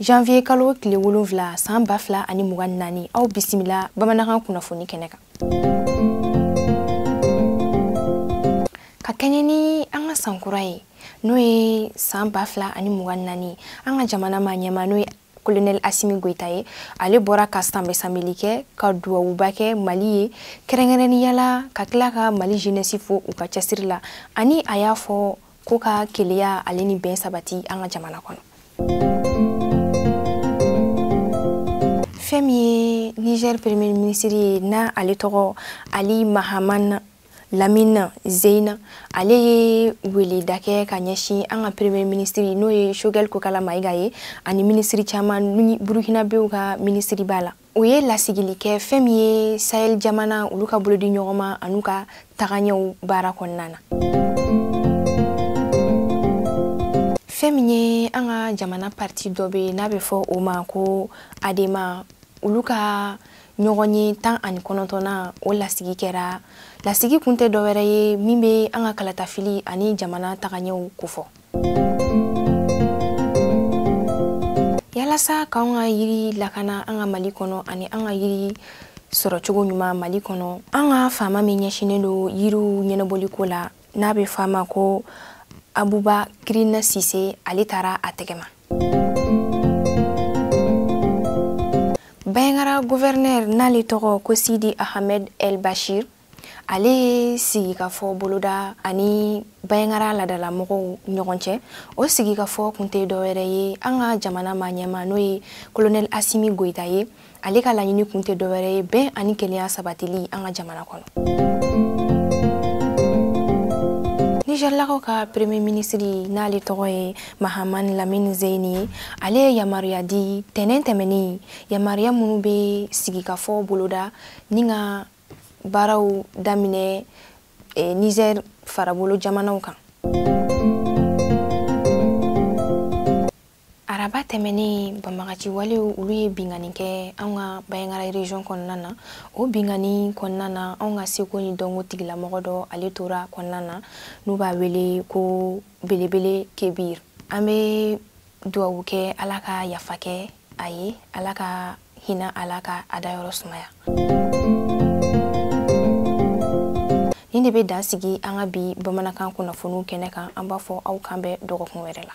janvier kalo tile wolonfila saan ba fila ani mugan naani aw bisimila bamanankan kunnafoni kɛnɛ kan ka kɛɲɛ ni an ka sankura ye n'o ye saan ba fila ani mugan naani an ka jamana maaɲɛmaa n'o ye kolonɛli asimi goyita ye ale bɔra ka sanbɛsanbɛli kɛ ka duwawuba kɛ mali ye kɛrɛnkɛrɛnnenya la ka tila ka mali jeunesse fo u ka cɛsiri la ani a y'a fɔ ko ka kelenya ale ni bɛn sabati an ka jamana kɔnɔ fɛn min ye niger premier ministre ye n'ale tɔgɔ ali mahaman lamina zeina ale ye weleda kɛ ka ɲɛsin an ka premier ministiri n'o ye shogɛl kokala mayiga ye ani minisiri caman burukinabew ka minisiri b'a la o ye lasigili kɛ fɛn min ye sahel jamana olu ka bolodi ɲɔgɔn ma an'u ka tagaɲɛw baara kɔnɔna na fɛn min ye an ka jamana parti dɔ bɛ n'a bɛ fɔ o ma ko adema olu ka ɲɔgɔnye tan ani kɔnɔntɔnnan o lasigi kɛra lasigi kun tɛ dɔwɛrɛ ye min bɛ an ka kalatafili ani jamana tagaɲɛw kofɔ yalasa k'an ka yiri lakana an ka mali kɔnɔ ani an ka yiri sɔrɔ cogo ɲuman mali kɔnɔ an ka faama min ɲɛsinnen don yiriw ɲɛnabɔli ko la n'a bɛ f'a ma ko abubakirina sise ale taara a tɛgɛma banjagara guvɛrinɛri n'ale tɔgɔ ko sidi ahamed el bashir ale ye sigikafɔ boloda ani banjagara laadalamɔgɔw ɲɔgɔn cɛ o sigikafɔ kun tɛ dɔwɛrɛ ye an ka jamana maaɲɛmaa n'o ye kolonɛli asimi goyita ye ale ka laɲini kun tɛ dɔwɛrɛ ye bɛn ani kelenya sabatili an ka jamana kɔnɔ nizɛrilakaw ka premier minisiri n'ale tɔgɔ ye mahamani lamini zeyini ye ale ye yamaruya di tɛnɛn tɛmɛnen yamaruya minnu bɛ sigikafɔ boloda ni ka baaraw daminɛ eh, nizɛr farabolo jamanaw kan araba tɛmɛnen banbaganci walew olu ye binkanni kɛ anw ka banjagara region kɔnɔna na o binkanni kɔnɔna na anw ka seko ni dɔnko tigilamɔgɔ dɔ ale tora kɔnɔna na n'u b'a wele ko belebele kebir an bɛ duwawu kɛ ala ka yafa kɛ a ye ala ka hinɛ a la ka a dayɔrɔ sumaya nin de bɛ dan sigi an ka bi bamanankan kunnafoniw kɛnɛ kan an b'a fɔ aw k'an bɛn dɔgɔkun wɛrɛ la